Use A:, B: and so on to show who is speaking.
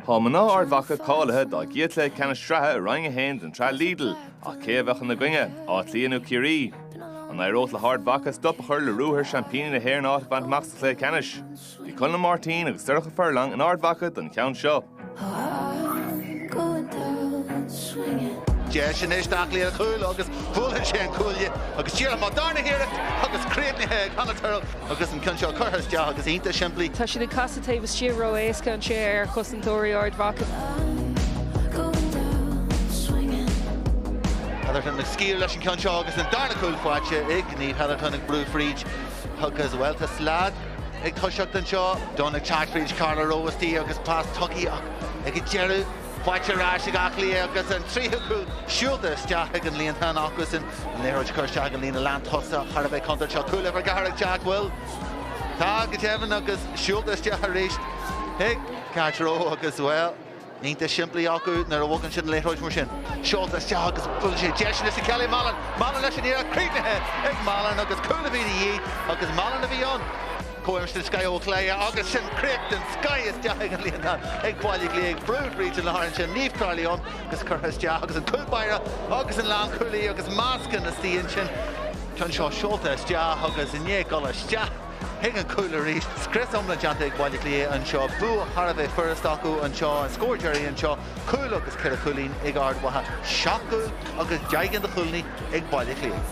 A: Tá mná Ard Mhacha cáilithe dá gcéad chluiche ceannais sraithe i Roinn 1 den tsraith Lidl, ach cé a bheadh ina gcoinne, Áth Cliath nó Ciarraí? An éireodh le hArd Mhacha stop a chur le ruathar seaimpíní na hÉireann áit a bhaint amach sa chluiche ceannais? Bhí Conall Ó Máirtín agus Sorcha Furlong in Ard Mhacha don cheann seo.
B: Deis anois d'Áth Cliath ar chúl agus buaileann sé an cuaille agus díreach mar darna hiarracht agus críochnaithe ag Hannah Tyrrell agus an ceann seo curtha isteach agus iontach simplí. Tá siad ag casadh taobh
C: istigh ró-éasca anseo ar chosantóirí Ard
B: Mhacha. Hetherton ag scaoileadh leis an gceann seo agus an darna cúl faighte ag Niamh Hetherton ag brú fríd agus bhuel tá slad. Ag toiseacht anseo, Dunne ag teacht fríd, Carla Rowe istigh agus pas tugtha ach ag an deireadh faighte ar ais ag Áth Cliath agus an tríú cúl siúlta isteach ag an líontán acusan. An liathróid curtha isteach ag an líne lántosaigh thar a bheith contúirteach seo. Cúl uimhir 4 ag teacht, an bhfuil? Tá go deimhin agus siúlta isteach arís ag Carla Rowe agus, bhuel, iontach simplí acu nuair a bhogann siad an liathróid mar sin. Seolta isteach agus bhuel seo deis anois ag Kelly Mallon. Mallon leis an iarracht críochnaithe ag Mallon agus cúl a bhí de dhíth agus Mallon a bhí ann. Cumas den scoth ó chlé agus sin críoch den scoth isteach ag an líontán ag Baile Átha Cliath. Brú fríd an lár ansin Niamh Crowley ann agus curtha isteach agus an cúl báire agus an lánchúlaí agus meascán istigh ansin. Ceann seo seolta isteach agus i ndiaidh dul isteach. Chuig an cúl arís. Scrios iomlán déanta ag Baile Átha Cliath anseo. Bua thar a bheith furast acu anseo. An scór deiridh anseo, cúl agus ceithre chúilín ag Ard Mhacha. Seacht gcúl agus deich gcinn de chúilíní ag Baile Átha Cliath.